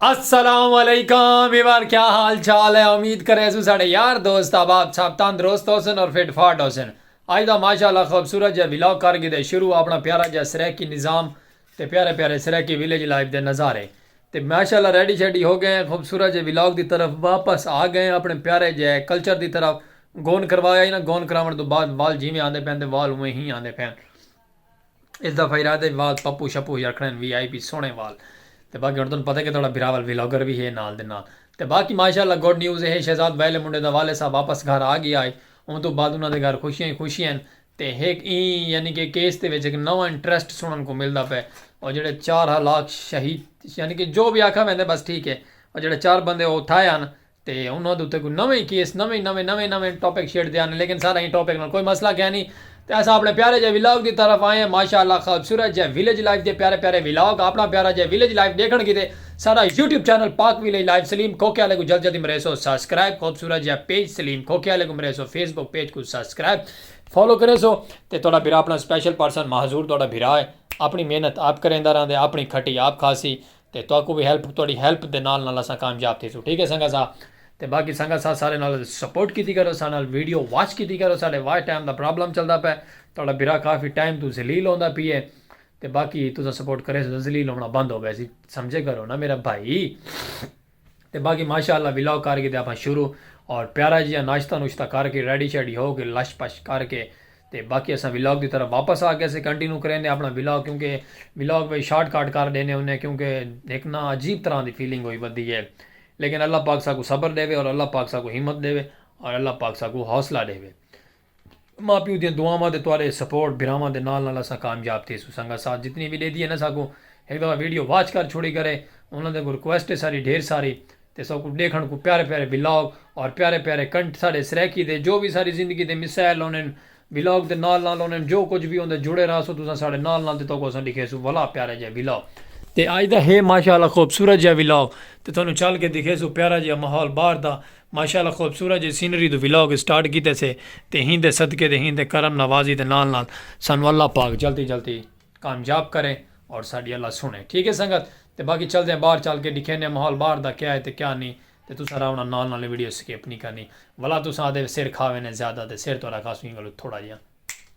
السلام علیکم ویوار کیا حال چال ہے امید کرے سو ساڑے یار دوست آباد صاحب تندرست ہو سن اور فٹ فاٹ ہو سن آج دا ماشاءاللہ خوبصورت جا ویلاگ کر گئے دے شروع اپنا پیارا جا سریکی نظام تے پیارے پیارے سریکی ویلیج لائف دے نظارے تے ماشاءاللہ ریڈی شیڈی ہو گئے ہیں خوبصورت جے ولاگ دی طرف واپس آ گئے ہیں اپنے پیارے جے کلچر دی طرف گون کروا یا ہی نا گون کراون توں بعد وال جیویں آندے پین تے وال اوویں ہی آندے پین اس دفعہ ارادہ ہے وال پپو شپو ہی رکھنے ہیں وی آئی پی سونے وال تے باقی ہن تانوں پتہ ہے کہ تہاڈا بھراول ولاگر وی ہے نال دے نال تے باقی ماشاءاللہ گڈ نیوز ہے شہزاد ویلے منڈے دا والد صاحب واپس گھر آ گیا ہے اوں توں بعد انہاں دے گھر خوشیاں ہی خوشیاں ہیں تے ہک ایں یعنی کہ کیس دے وچ ہک نواں انٹریسٹ سنڑن کوں ملدا پئے او جیڑھے چار ہلاک شہید یعنی کہ جو وی آکھا ویندے بس ٹھیک ہے او جیڑھے چار بندے او تھائے ہن تے انہاں دے اتے کوئی نویں ہی کیس نویں نویں نویں نویں ٹاپک چھیڑ دے ہن لیکن سارا ایں ٹاپک نال کوئی مسئلہ کیا نی تے اساں اپنے پیارے جے ولاگ دی طرف آئے ہیں ماشاءاللہ خوبصورت جے ولیج لائف دے پیارے پیارے ولاگ اپنا پیارا جے ولیج لائف ڈیکھن کیتے سارا YouTube channel Pak village life Saleem Khokhe آلے کوں جلد جلدی مریسو سبسکرائب خوبصورت جے پیج سلیم کھوکھے آلے کوں مریسو فیس بک پیج کوں سبسکرائب فالو کریسو تے تہاڈا بھرا اپنا سپیشل پرسن ماحضور تہاڈا بھرا ہے اپنی محنت آپ کریندا رہندے اپنی کھٹی آپ کھاسی تے تہاکوں وی ہیلپ تہاڈی ہیلپ دے نال نال اساں کامیاب تھیسوں ٹھیک ہے سنگت سا تے باقی سنگت سا سارے نال سپورٹ کیتی کرو سارے نال ویڈیو واچ کیتی کرو ساڈے واچ ٹائم دا پرابلم چلدا پئے تہاڈا بھرا کافی ٹائم توں ذلیل ہوندا پیے تے باقی تساں سپورٹ کریسو تے ذلیل ہونا بند ہو ویسی سمجھے کرو نا میرا بھائی۔ تے باقی ماشاء اللہ ولاگ کر گھدیا اساں شروع اور پیارا جیہاں ناشتہ نوشتہ کر کے ریڈی شیڈی ہو کے لش پش کر کے تے باقی اساں ولاگ دی طرف واپس آ گئے اسے کنٹینیو کریندے اپنا ولاگ کیونکہ ولاگ وچ شارٹ کٹ کر ڈینے ہونے کیونکہ ہک نا عجیب طرح دی فیلنگ ہوئی ودی ہے لیکن اللہ پاک ساکوں صبر ڈیوے اور اللہ پاک ساکوں ہمت ڈیوے اور اللہ پاک ساکوں حوصلہ ڈیوے۔ ماء پیو دیاں دعاواں تے تہاڈے سپورٹ بھراواں دے نال نال اساں کامیاب تھیسوں سنگت ساتھ جتنی وی ڈیدی ہے نا ساکوں ہک دفعہ ویڈیو واچ کر چھوڑی کرے انہاں دے اگوں ریکویسٹ ہے ساڈی ڈھیر ساری تے ساکوں ڈیکھن کوں پیارے پیارے ولاگ اور پیارے پیارے کنٹ ساڈے سرائیکی دے جو وی ساڈی زندگی دے مسائل ہونن ولاگ دے نال نال ہونن جو کجھ وی ہوندے جڑے رہسوں تساں ساڈے نال نال تے تہاکوں اساں ڈکھیسوں ولا پیارا جیہا ولاگ تے اج دا ہے ماشاءاللہ خوبصورت جیہا ولاگ تے تہانوں چل کے دکھیسوں پیارا جیہا ماحول باہر دا ماشاءاللہ خوبصورت جے سینری توں ولاگ سٹارٹ کیتے سے تے ہیندے صدقے تے ہیندے کرم نوازی دے نال نال سانوں اللہ پاک جلدی جلدی کامیاب کرے اور ساڈی اللہ سنڑے ٹھیک ہے سنگت تے باقی چلدے آں باہر چل کے ڈکھینے آں ماحول باہر دا کیا ہے تے کیا نی تے تساں راونا نال نال ویڈیو سکپ نی کرنی ولا تساں آدھے سر کھا وینے زیادہ تے سر تہاڈا کھاسوں ایں گلوں تھوڑا جیاں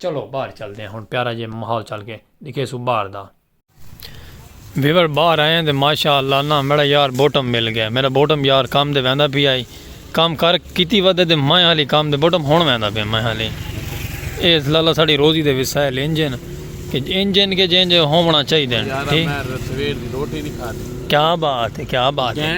چلو باہر چلدے آں ہن پیارا جے ماحول چل کے ڈکھیسوں باہر دا۔ ویور باہر آئیں تے ماشاء اللہ ناں میڈا یار بوٹم مل گئے میڈا بوٹم یار کم تے ویندا پیا ہئی کم کر کیتی ودھے تے میں ہالی کم تے بوٹم ہن ویندا پیا میں ہالی اے لالا ساڈی روزی دے وسائل انج ہن کہ انج ہن کہ جینج ہوونڑاں چاہیدن ٹھیک کیا بات ہے کیا بات ہے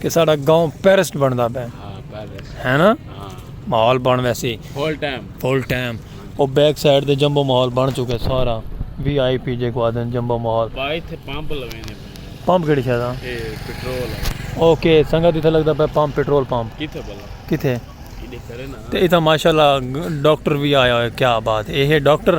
کہ ساڑا گاؤں پیرسٹ بندا پے ہے نا ماحول بن ویسی فل ٹائم فل ٹائم او بیک سائیڈ دے جمبو ماحول بن چکے سارا وی آئی پی جے کو آدن جمبو ماحول بھائی تھے پمپ لوینے پمپ کیڑی شے دا اے پیٹرول اوکے سنگا دیتا لگدا پے پمپ پیٹرول پمپ کیتھے بلا کیتھے تے ایتھا ماشاءاللہ ڈاکٹر وی آیا ہوئے کیا بات اے ہے ڈاکٹر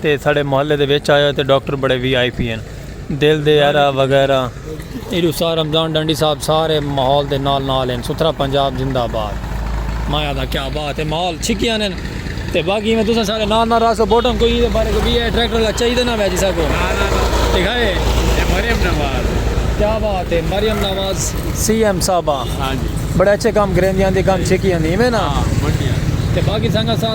تے ساڑے محلے دے وچ آیا تے ڈاکٹر بڑے وی آئی پی ہن دل دے ارا وغیرہ۔ ایڈو سا رمضان ڈانڈی صاحب سارے ماحول دے نال نال ہن ستھرا پنجاب زندہ باد۔ مایا دا کیا بات ہے ماحول چھکیاں نین تے باقی میں تساں سارے نال نال راسو بوٹم کوئی دے بارے کوئی ہے ٹریکٹر لا چاہی دے نہ ویجی سا کو ٹھیک ہے یہ مریم نواز کیا بات ہے مریم نواز سی ایم صاحبہ بڑے اچھے کام کریں دیاں دی کام چھکیاں دی میں نا تے باقی سنگا سا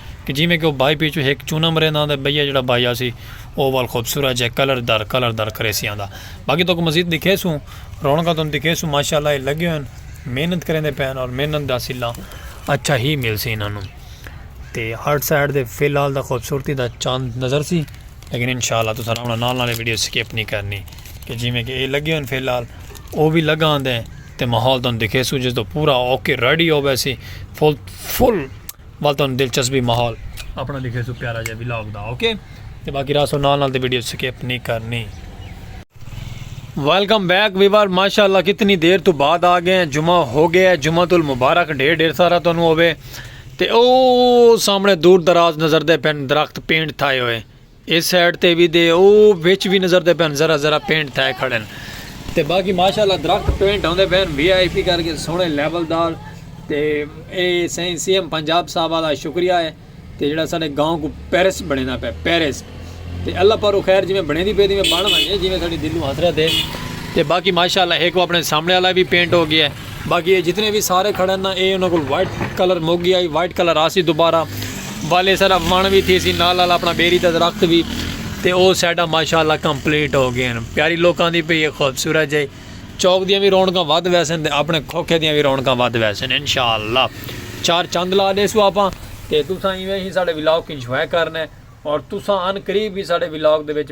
کہ جیویں کہ او بائی پی چوں ہک چونم رہندا ہوندا ہے بئیا جیڑھا بائی آسی او وال خوبصورت جئے کلر در کلر در کریسی آندا باقی تہاکوں مزید دکھیسوں رونقاں تہاکوں دکھیسوں ماشاءاللہ اے لگے ہوئن محنت کریندے پئے ہن اور محنت دا صلہ اچھا ہی ملسی انہاں نوں تے ہر سائیڈ دے فی الحال دا خوبصورتی دا چاند نظر سی لیکن انشاءاللہ تساں انہاں نال نال ویڈیو سکپ نہیں کرنی کہ جیویں کہ اے لگے ہوئن فی الحال او وی لگا آندے تے ماحول تہاکوں دکھیسوں جس دا پورا اوکے ریڈی ہو ویسی فل فل ول تانوں دلچسپی ماحول اپنا دکھے سو پیارا جا ولاگ دا اوکے تے باقی راہ سو نال نال تے ویڈیو سکپ نہیں کرنی ویلکم بیک ویور ماشاء اللہ کتنی دیر تو بعد آ گئے ہیں جمعہ ہو گیا ہے جمعہ تل مبارک ڈھیر ڈھیر سارا تو ہوئے تے او سامنے دور دراز نظر دے پین درخت پینٹ تھائے ہوئے اس سائیڈ تے وی دے او وچ وی نظر دے پین ذرا ذرا پینٹ تھائے کھڑن تے باقی ماشاءاللہ درخت پینٹ ہوندے پین وی آئی پی کر کے سونے لیول دار تے اے سائیں سی ایم پنجاب صاحب والا شکریہ ہے تے جڑا ساڈے گاؤں کو پیرس بنینا پے پیرس تے اللہ پارو خیر جی میں بنے دی پے دی میں بن ونجے جی میں ساڈی دلوں حسرت ہے تے باقی ماشاءاللہ ایک وہ اپنے سامنے والا بھی پینٹ ہو گیا ہے باقی اے جتنے وی سارے کھڑے نا اے انہاں کول وائٹ کلر مک گیا ہے وائٹ کلر آسی دوبارہ والے سارا وان وی تھی سی نال نال اپنا بیری دا درخت وی تے او سیڈا ماشاءاللہ کمپلیٹ ہو گئے ہیں پیاری لوکاں دی پئی ہے خوبصورت جائی چوک دیاں وی رونقاں ود ویسن تے اپنے کھوکھے دیاں وی رونقاں ود ویسن انشاءاللہ چار چند لا دے سو اپاں تے تساں ایویں ہی ساڈے ولاگ انجوائے کرنے اور تساں ان قریب ہی ساڈے ولاگ دے وچ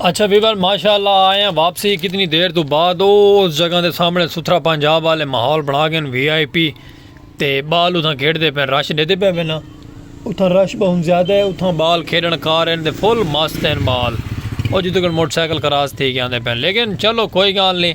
اچھا ویور ماشاء اللہ آئے ہیں واپسی کتنی دیر تو بعد او اس جگہ دے سامنے ستھرا پنجاب والے ماحول بنا گئے وی آئی پی تے بال اتھاں کھیڑ دے پین رش دے دے پے وینا اتھاں رش بہن زیادہ ہے اتھاں بال کھیڑن کار ہیں دے فل مست ہیں بال او جتو کن موٹر سائیکل کراس تھی گیا دے پین لیکن چلو کوئی گال نہیں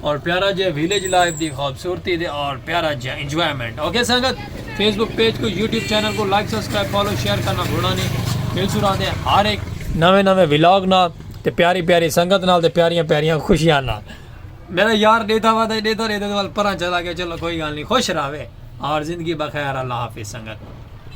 اور پیارا جے ویلیج لائف دی خوبصورتی دے اور پیارا جے انجوائمنٹ اوکے سنگت فیس بک پیج کو یوٹیوب چینل کو لائک سبسکرائب فالو شیئر کرنا بھولا نہیں مل سورا دے ہر ایک نویں نویں ولاگ نہ تے پیاری پیاری سنگت نال تے پیاریاں پیاریاں خوشیاں نال میرا یار دیتا ہوا تھا دیتا دیتا تو پران چلا گیا چلو کوئی گال نہیں خوش رہوے اور زندگی بخیر اللہ حافظ سنگت